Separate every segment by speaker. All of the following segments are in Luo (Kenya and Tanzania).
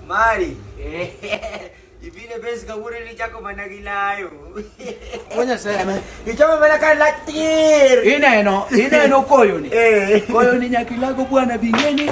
Speaker 1: Mari. Ipine besi kagure ni chako mana gilayo.
Speaker 2: Onya sema. Ichama mana ka
Speaker 1: latir. Ineno, ineno
Speaker 2: koyo ni. Eh. Koyo ni nyakilago bwana bingeni.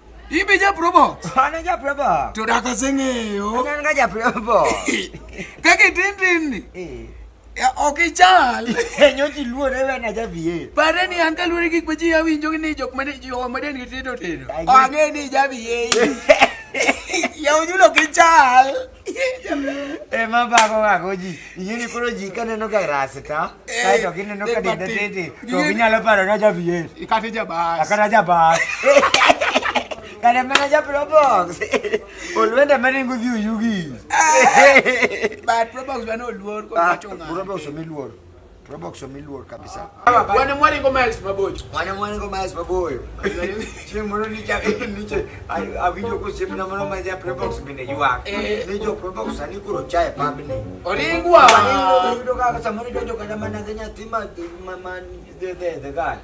Speaker 1: Imbe ja
Speaker 2: probo. Ana ja probo.
Speaker 1: To da ka senge
Speaker 2: yo. Ana nga ja probo.
Speaker 1: Ka ke
Speaker 2: tin tin ni. Eh. Ya oke chal. Enyo ti luo re
Speaker 1: na ja biye. Pare ni an ka luo
Speaker 2: ki pa ji ya winjo ni jok mane ji o mane ni ti do ti. O ange ni ja biye. Ya ujulo ke chal.
Speaker 1: ema bako bako ji ing'eni koro ji kaneno ga rasta kae to gineno ka denda tete to ginyalo paro na javier kata jabas
Speaker 2: kata jabas
Speaker 1: kata mana japrobox olwenda maringo dhi oyugi but
Speaker 2: probox bana oluor kod wacho ng'ato probox omiluor
Speaker 1: Probox miluor kabisa. Wana mwani ngo
Speaker 2: Miles Maboyo. Wana mwani ngo Miles
Speaker 1: Maboyo. Chini mwana ni cha ni cha avijo ko simu na mwana maja Probox bine jua. Eh. Ni jo Probox ani kuro chai pabini. Oringwa. Ani
Speaker 2: ndo ndo
Speaker 1: kaka samuni ndo ndo kana mana zenya tima mama de de de gal.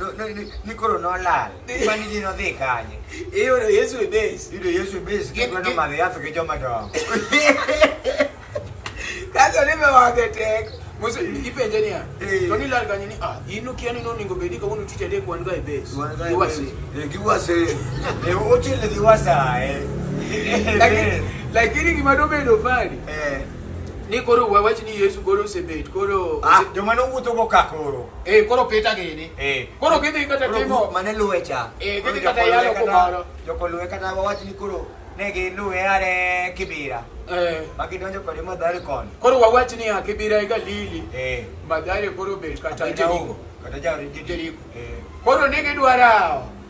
Speaker 1: No- no- ni- ni koro nolal mani ji nodhi
Speaker 2: kanye Iyudo Yesu e base. yudo yesu bis Gi-
Speaker 1: kendo gi- nomadhi
Speaker 2: yath gi joma dongo Kaso ni me wage tek. Musa ipenje niya. Eh. To ni lal kanyo ni ah in ukia ni noningo bedi ka unu tich adek wan ga e base. Iwasi. Eh,
Speaker 1: giwase Eh, ochele giwasa eh. Lakini
Speaker 2: lakini gima dobedo fani Eh, ni koro wawach ni Yesu koro osebet koro ah, joma nowuotho go
Speaker 1: ka koro Eh, koro pita gini.
Speaker 2: Eh. Koro gidhi kata Koro timo. grup mane luwe cha Eh,
Speaker 1: Koro gidhi kata jokoluwe yalo
Speaker 2: kata- kumoro. jokoluwe kata
Speaker 1: wawach ni koro ne giluwe are kibira Eh, ma gidonjo kode madhari koni koro wawach ni ya
Speaker 2: kibira ega lili. Eh, Madhari koro bet kata kata jaongo jaongo. kata jaongo
Speaker 1: Jeriko. Eh. Koro ne
Speaker 2: gidwarawo.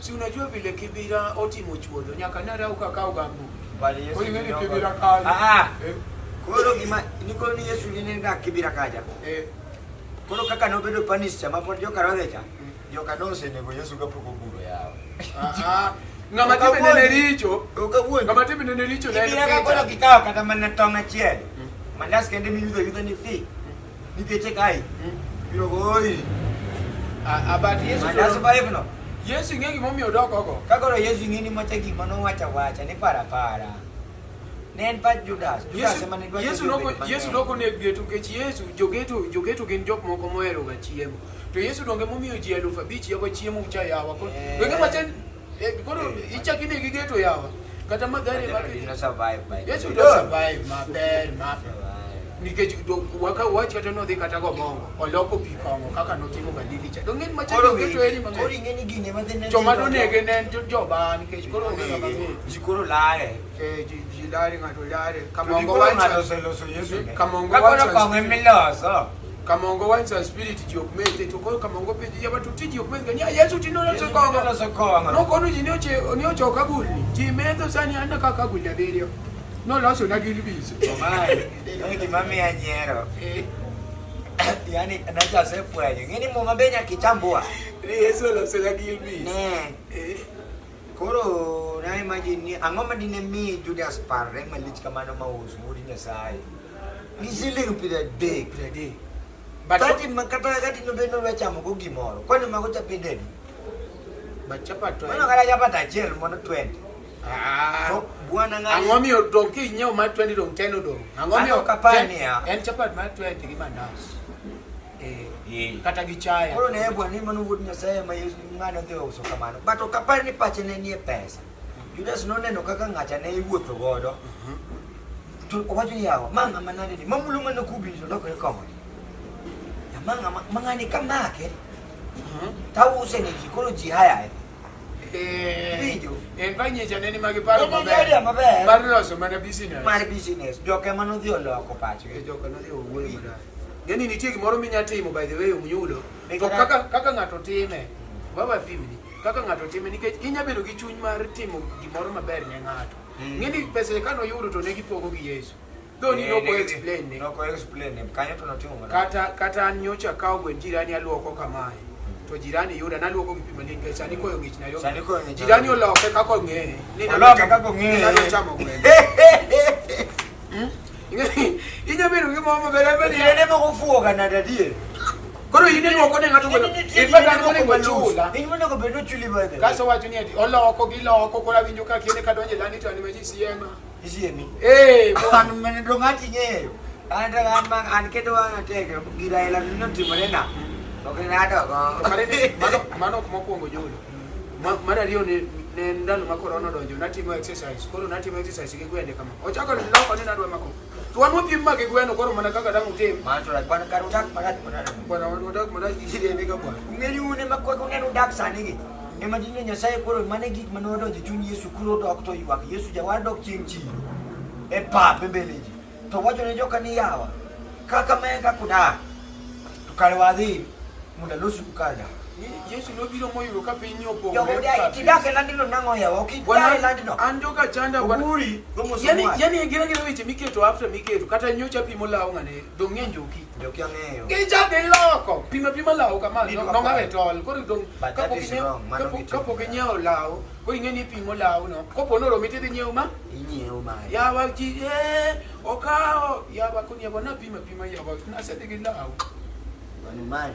Speaker 2: Si unajua vile Kibira otimo chuodho nyaka nara ukakaw gambo. Bali Yesu. Oyingeni
Speaker 1: Kibira kaja.
Speaker 2: Ah, ah. Eh. Koro
Speaker 1: gima niko ni Yesu ni nenda Kibira kaja. Eh. Koro kaka nobedo panis chama pod joka rodhecha. Mm. Joka nose nego Yesu kapoko buro yao. Ah, ah.
Speaker 2: Ngama tibe nene richo. Ukawuondi. Ngama tibe
Speaker 1: nene richo.
Speaker 2: Kibira kakolo kikawa
Speaker 1: kata mana tong achiel. Mm. Mandas kende miyudo yudho ni fi. Nipiece kae. Mm. Biro goi.
Speaker 2: Ah, but Yesu Mandasu pa hivyo.
Speaker 1: Yesu ing'e gima omiyo
Speaker 2: odok oko. Kagoro Yesu ing'e ni macha
Speaker 1: gima nowacha wacha ni para para. Ne en pa Judas. Judas ema ne dwacho. Yesu noko Yesu noko ne
Speaker 2: geto kech Yesu jogeto jogeto gin jok moko mohero ga chiemo. To Yesu donge momiyo ji eluf abich yago chiemo cha yawa. Wenge macha Eh, kono ichaki negi geto yawa kata magari yesu do survive
Speaker 1: maber
Speaker 2: maber nikech waka wach kata nodhi kata gomongo oloko pi kong'o kaka notimo galili cha to ng'eny machalo geto eri mang'eny joma
Speaker 1: donege ne en
Speaker 2: joba nikech koro onge kama ji koro lare
Speaker 1: eh, ji lare
Speaker 2: ng'ato lare kamongo
Speaker 1: wacho kamongo wacho kong'o miloso Kamongo wines
Speaker 2: and spirit ji ok mete to koyo kamongo pe ji yaba to ti ji ok mete nya Yesu ti no Yesu to kongo tinono sokowa no ng'ano. kono ji ne oche ne ocho kagulni ji metho sani anna ka kagulni abiriyo noloso na gin biso Omae, no
Speaker 1: gimamiya nyiero. Yaani nacho asefwenyo. Ng'eni muma be nyaka ichambua. Yesu oloso
Speaker 2: na gin biso Ne. Eh.
Speaker 1: Koro na imagine ni ang'o ma dine mi Judas parre malich kamano ma us wuod Nyasaye? Ni siling piero adek. Piero adek. But kati ma kata kati no bendo we chamo go gimoro. Kwani mago chapi dedi.
Speaker 2: But chapa to. Mano kala chapa ta jel
Speaker 1: mono 20. Ah. To bwana ngani. Ang'o mi odong ki nyeo
Speaker 2: ma 20 dong 10 odong. Ang'o mi okapani ya. En
Speaker 1: chapa ma 20
Speaker 2: gi mandas. Eh. kata gi chaya koro ne bwana ni mano wuod
Speaker 1: nyasaye ma yesu ng'ano dhi uso kamano but ok apar ni pache ne nie pesa mhm. judas noneno kaka ng'acha ne iwuotho godo mhm. to owacho ni yawa ma ng'ama nade ni mamulo mana kubi to lokore kong'o ma ng'ama ma ng'ani ka make mhm. tause ne ji koro ji hayaye Video. En fa
Speaker 2: nyecha neni ma giparo maber. En maber. Mar
Speaker 1: loso mana
Speaker 2: business. Mar business. Joka
Speaker 1: mano dhi oloko pacho. Joka no dhi owuoyo.
Speaker 2: Ng'e ni nitie gimoro minya timo by the way omyulo. To kaka kaka ng'ato time, baba pimni, kaka ng'ato time nikech inya bedo gi chuny mar timo gimoro maber ne ng'ato. Mm. Ng'e ni pesa kano yudo to ne gipogo gi Yesu. Though ni noko explain ne. Noko explain ne. Kanyo
Speaker 1: to notimo mana. Kata kata an nyocha
Speaker 2: kawo gwen jirani aluoko kamae. To jirani yuda naluoko gi pima linge sani koyo ngich na yo. Sani koyo ngich. Jirani oloke kako ng'e. Oloke kako ng'e. Ni nalo
Speaker 1: chamo
Speaker 2: gwen. Inyo biro gi mama bere bere. Ile ne moko fuo
Speaker 1: kana dadie. Koro in
Speaker 2: ni oko ne ngato ko. In ba kan ko ba chula. In mo ko bedo chuli
Speaker 1: ba de. Kaso wacho ni ati
Speaker 2: oloko gi loko kora winjo ka kene ka donje lani to ani maji siema. Isiemi. Eh,
Speaker 1: ko an
Speaker 2: mene do ngati
Speaker 1: nyeyo. An da an ma an kedo an tege gira ila no timore na. Ok ng'ato go. Mano mano kuma kuongo
Speaker 2: jolo. Ma- mar ariyo ne ne en ndalo ma korona odonjo natimo exercise koro natimo exercise gi gwende kama ochako niloko ni nadwa mako tuan wapim ma gi gweno koro mana kaka dang' utim Man to like one car udak
Speaker 1: marat marat. bwana wadak
Speaker 2: mana gi kidende ka bwana Ungeni une makweko
Speaker 1: nen udak sani gi. Ema dine Nyasaye koro mane gik mane odonjo chuny Yesu koro odok to ywak Yesu jawar dok chieng' chi. E pap e mbele ji. To wacho ne joka ni yawa kaka me kaka udak to kare wadhi mondo alosi kukada Yesu nobiro
Speaker 2: moyudo ka piny opogore. Jogo dai tidake
Speaker 1: landino nango yawa ok idare landino. An joka chanda wan.
Speaker 2: Oguri. Yani
Speaker 1: yani gira
Speaker 2: gira weche miketo after miketo kata nyocha pimo lawo ngane dong ng'eny joki. Joki ang'eyo.
Speaker 1: Gicha dhi loko.
Speaker 2: Pima pima lawo kamano. Nongawe tol. Koro dong kapok inyewo lawo koro ing'e ni ipimo lawu no kopo ni oromi tidhi nyiewo ma inyiewo mari
Speaker 1: yawa ji
Speaker 2: eh, okawo yawa koni yawa napima pima yawa nasedhi gi lawu mano mari